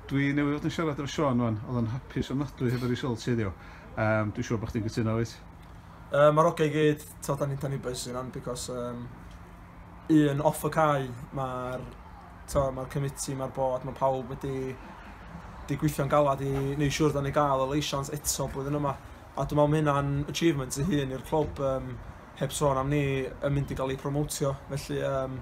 Dwi newydd fod yn siarad efo Sean wan, oedd o'n hapus ofnadwy hefo'r results heddiw. Um, dwi'n siŵr bod chdi'n gytuno wyt? Uh, Mae'r ogau gyd, tod, da ni'n da ni bys yn am, because um, un off y cae, mae'r ma committee, mae'r bod, mae pawb wedi di gweithio'n galad i neu siŵr da ni gael y leisiant eto blwyddyn yma. A dwi'n meddwl mae hynna'n achievement i hun i'r clwb, um, heb sôn am ni yn mynd i gael ei promotio. Felly, um,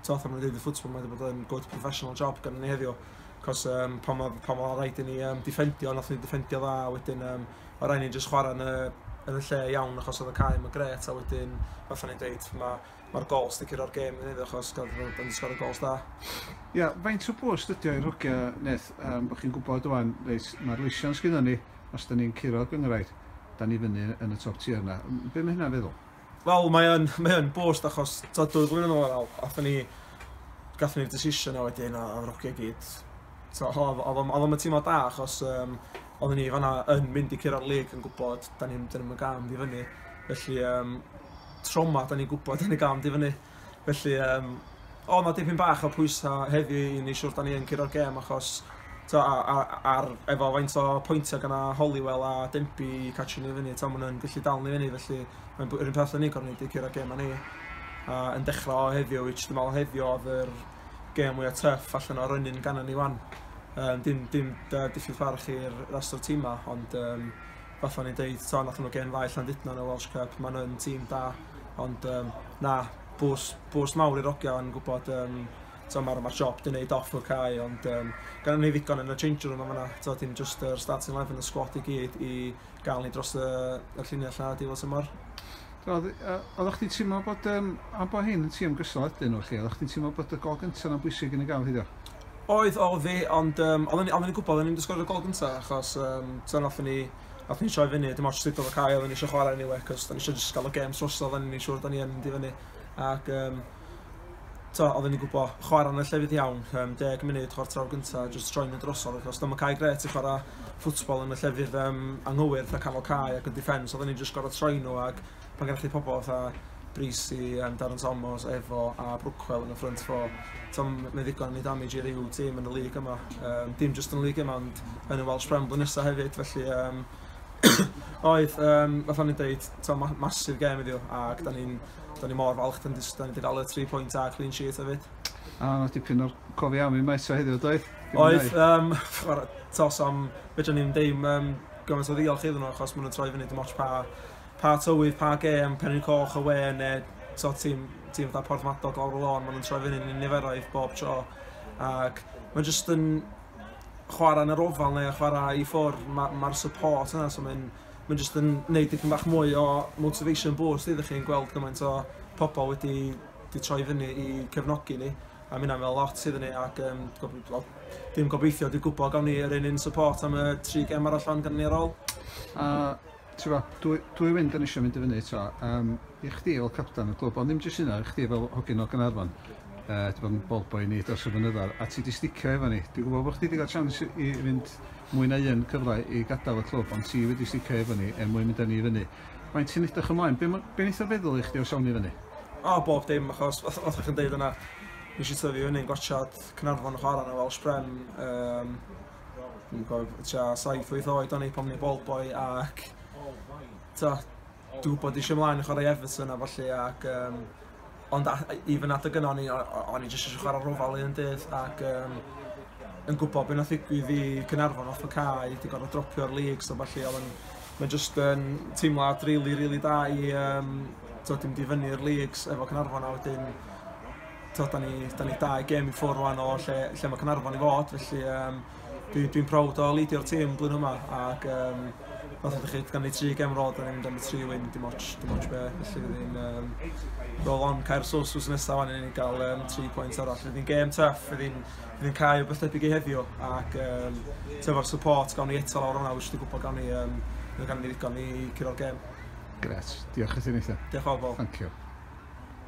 Ti'n fath o'n dweud y ffwtbol, mae wedi bod yn good professional job gan ni heddiw. Cos um, pan mae pa ma rhaid i ni um, difendio, nath ni difendio dda, wedyn um, o rhaid ni jyst chwarae yn y, yn y lle iawn achos oedd y cae yn gret, a wedyn, fath o'n i'n dweud, mae'r ma gol sticker o'r gêm yn heddiw achos gael bod yn sgor y gols da. Ia, yeah, faint o bwys dydio i'r hogia, Neth, um, bod chi'n gwybod o'n, reis, mae'r leision sgynnon ni, os da ni'n curo gyngraid, da ni fyny yn y top tier yna. Be mae hynna'n feddwl? Wel mae yn mae yn boost achos t'od dwy flynedd yn ôl athon ni gathon ni'r decision a wedyn a odd Rocky i gyd t'o' o- odd o'm odd o'm yn teimlo da achos yym oddon ni fan 'na yn mynd i curo'r lig yn gwbod 'dan ni'm 'dan ni'm yn ga'l mynd i fyny felly yym trauma 'dan ni'n gwbod 'dan ni ga'l mynd i fyny. Felly yym oedd 'na dipyn bach o pwysau heddi i ni siwr da ni yn curo'r gêm achos t'o' a- a- ar efo faint o pwyntiau gan na Holywell a Denby i catchio ni fyny t'o' ma' nhw'n gallu dal ni fyny felly mae'n yr un peth â ni gorfod neud i curo'r gêm a ni a yn dechrau o heddiw which dwi'n meddwl heddiw oedd yr gêm mwya' tuff allan o'r ynyn gannon ni 'wan. Yym dim dim da- diffyg ffarch i'r rest o'r tîmau ond yym fatha o'n i'n deud t'o' nathon nhw gêm dda i Llandudno yn y Welsh Cup ma' nhw yn tîm da ond yym na bws bws mawr i'r ogia yn gwbod yym t'o' ma'r ma'r job 'di neud off y cae ond yym gynnon ni ddigon yn y change room yn fan 'na t'o' dim jyst yr starting eleven y sgwad i gyd i ga'l ni dros y y llinell 'na ar diwadd tymor. Odd yy oddach chdi'n teimlo bod yym am bo' hyn yn tîm gystal ydyn nhw felly oddach chdi'n teimlo bod y gol gynta 'na'n bwysig yn y gafr hidio? Oedd oedd fi ond yym oddwn i oddwn i'n gwbod o'n i'n mynd i sgorio gol gynta achos yym t'o' nathon ni nathon ni troi fyny dim ots sut odd y cae oddwn ni isio chwara eniwe 'c'os 'da ni isio jyst ga'l y gêm trosodd o'n ni'n siŵr 'da ni yn mynd i fyny ac yym t'o' odden ni'n gwbo chwara yn y llefydd iawn yym deg munud chwarter awr gynta jyst troi'n mynd drosodd achos dyma cae grêt i chwara football yn y llefydd yym anghywir fatha canol cae ac yn defence odden ni'n jyst gor'o' troi n'w ag pan gennych chi pobol fatha Brys i yym Darren Thomas, Evo a Brookwell yn y front four. T'o' m- mae ddigon i damage i ryw tîm yn y lig yma. Yym dim jyst yn y lig yma ond yn y Welsh Prem blwyddyn nesa hefyd felly yym oedd yym fatha o'n i'n deud t'o' ma' massive gêm heddiw ag 'dan ni'n Do'n i mor falch do'n jyst do'n i 'di dal y tri pwynt a clean sheet efyd. A o' 'na dipyn o'r cof iawn i Maes o heddiw doedd? Oedd yym chwara tos am fedran ni'm deud yym gymaint o ddiolch iddyn nhw achos ma' nhw'n troi fyny dim ots pa pa tywydd pa gêm Penrhyn Coch awe ne' t'o' tîm tîm fatha Porthmadog lawr y lôn ma' nhw'n troi fyny yn niferoedd bob tro ac ma' jyst yn chwara yn yr ofal ne' chwara i ffwr' ma' ma'r support yna so ma'n Mae'n jyst yn neud dipyn bach mwy o motivation boost iddych chi'n gweld gymaint o pobl wedi 'di troi fyny i cefnogi ni a ma' hynna'n meddwl lot iddyn ni ac yym gob- wel dim gobeithio dwi gwbo gawn ni yr un un support am y tri gem arall rŵan gynnon ni ar ôl. A t'bo' dwy dwy wind yn isio mynd i fyny eto yym i chdi fel capten y clwb ond ddim jyst hynna i chdi fel hogyn o Gaernarfon. uh, ti bod yn ball boy ni dros y fynyddoedd, a ti di sticio efo ni. Dwi'n gwybod bod chdi wedi cael chance i fynd mwy na un cyfle i gadael y clwb, ond ti wedi sticio efo ni er mwyn mynd â ni i fyny. Mae'n ti'n edrych ymlaen, be, be wnaeth o feddwl i chdi os awn i fyny? O, bob dim, achos oedd o'ch chi'n deud yna, nes i tyfu fyny'n gwatsiad Cynarfon yn chwarae yna fel Sprem. Um, Dwi'n gofio, tua 7-8 oed o'n i pan ni'n ball boy ac... Ta, Dw bod eisiau mlaen yn chwarae Everton a falle ac um, ond a, even at y gyno o'n i, o'n i jyst eisiau chwarae rhofal un dydd ac um, yn gwybod beth nath ddigwydd i Cynarfon off y cae, di gorfod dropio'r league so falle oedd yn mae'n jyst yn teimlad rili, really, rili really da i um, tod, dim di fyny'r leagues efo Cynarfon a wedyn tod, da ni, da ni dau gem i ffwrdd rwan o lle, lle mae Cynarfon i fod felly um, Dwi, dwi'n proud o leidio'r tîm blwyddyn yma ac um, fath ydych chi, gan ni tri gem rôl, da ni'n mynd am y tri wyn, dim ots, dim ots be, felly fydd ni'n um, rôl on cair sos sos nesaf fan ni'n cael um, tri pwynt arall. Fydd ni'n gem tuff, fydd ni'n fydd ni'n cael beth debyg i heddiw ac um, tyfo'r support gawn ni eto lawr hwnna, wyt ti'n gwybod gawn ni, um, gawn ni ddigon i curo'r gem. Gret, diolch i ti Nathan. Diolch o bobl. Thank you.